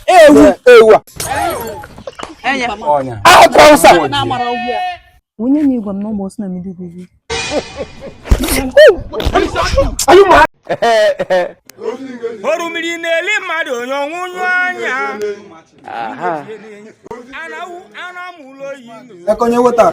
ewu ewu a Anya. ọnya ahụ ka ụsa Na-amara ọgwụ ya. Onye na-agwa m na ụmụ na mmiri gị orumiri na-eli mmadụ onye ọnwụnyụ anya anamụ ụlọ oyi aka onye wetara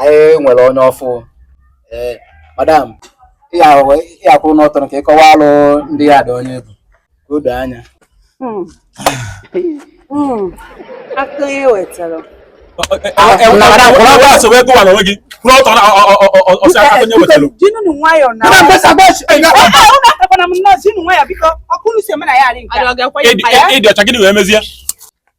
anyị nwere onye ọfụụ ee madam ya kwụrụ ọtọ ka ị kọwaalụ ndị yard onye ị bụ ka o doo anya hmm. Hmm. aka onye wetara jinunu nwayọ na ịdị ọcha gịnị wee mezie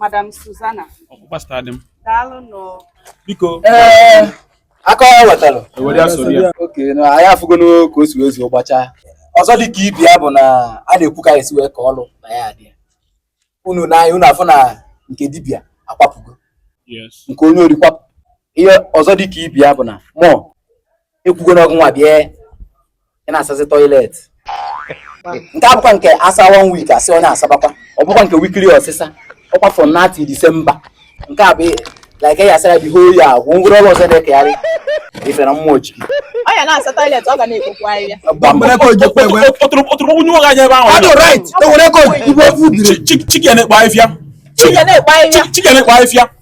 Madam Susanna. Ọkpụkpa star dị m. Daalụ nụ. Biko. Ee, aka onye wetara. E were ya soro ya. Okay, na anyị afụgonụ ka o si wezie gbachaa. Ọzọ dị ka ibe ya bụ na a na-ekwu ka e si wee kee ọlụ na yard a. Unu na anyị unu afụna nke dibịa akwapụgo. Nke onye ori kwapụ. Ihe ọzọ dị ka ibe ya bụ na mụ ekwugo na ọ gịnwa bịa ị na-asazi toilet nke a abụkwa nke a saa one week a sị onye a sabakwa ọ bụkwa nke weekly ọsịsa ọ kwa from now till December nke a bụ like ya asara the whole year agwụ ngwụrụ ọrụ ọzọ na-ekegharị ife na mmụọ ji ọ ya na-asa toilet ọ ga na-ekpokwu ahịhịa ọtụrụkpọnye nwoke anya ebe ahụ chicken ekpo ahịfịa chicken ekpo ahịfịa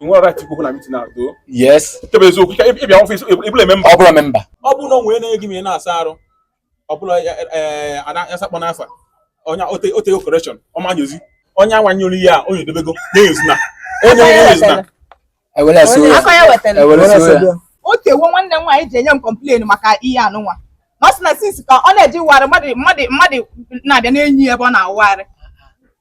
nwere right ikwu na meeting at all yes kebe eziokwu ike ịbịa ọfịs ị bụrọ memba ọ bụrọ memba ọ bụrụ na o nwere na-enyo gị ma ị na-asa arụ ọ bụla asakpọ n'afa point of correction ọ ma nyozi onye anwanyere ihe a onye edobego enyozina onye enyozina e were so ya o tewo nwanne m nwaanyị ji enye m complain maka ihe anụnwa na ọ sị na since ka ọ na-eje ịwụ arụ mmadụ na-abịa na-enyo ebe ọ na-awụ arụ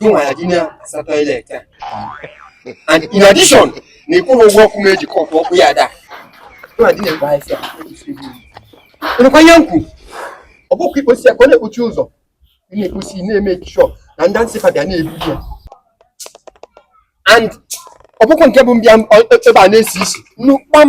gịnwa ya na-asa toilet a and in addition na ịkwụrụ ụgwọ ọkụ m eji kọpụ ọkụ yard a gịnwa dị na-egbe ahịa ị nụkwa ihe m kwu ọ bụkwa i kposịa ka ọ na-ekpochi ụzọ ị na-ekposi na-make sure na ndị ANSEPA bịa na-ebu ya and ọ bụkwa nke bụ m bịa ebe a na-esi isi nnu kpam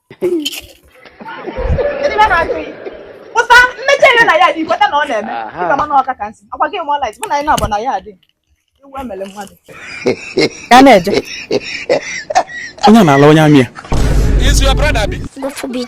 pụta mmechi ere na yard ị kweta na ọ na-eme dịka mana ọka ka nsị ọ kwa gị mụọ light mụ na anyị na-abụ na yard iwu emele mmadụ ya na-eje onye na-ala onye amị ya Is your brother be? God forbid.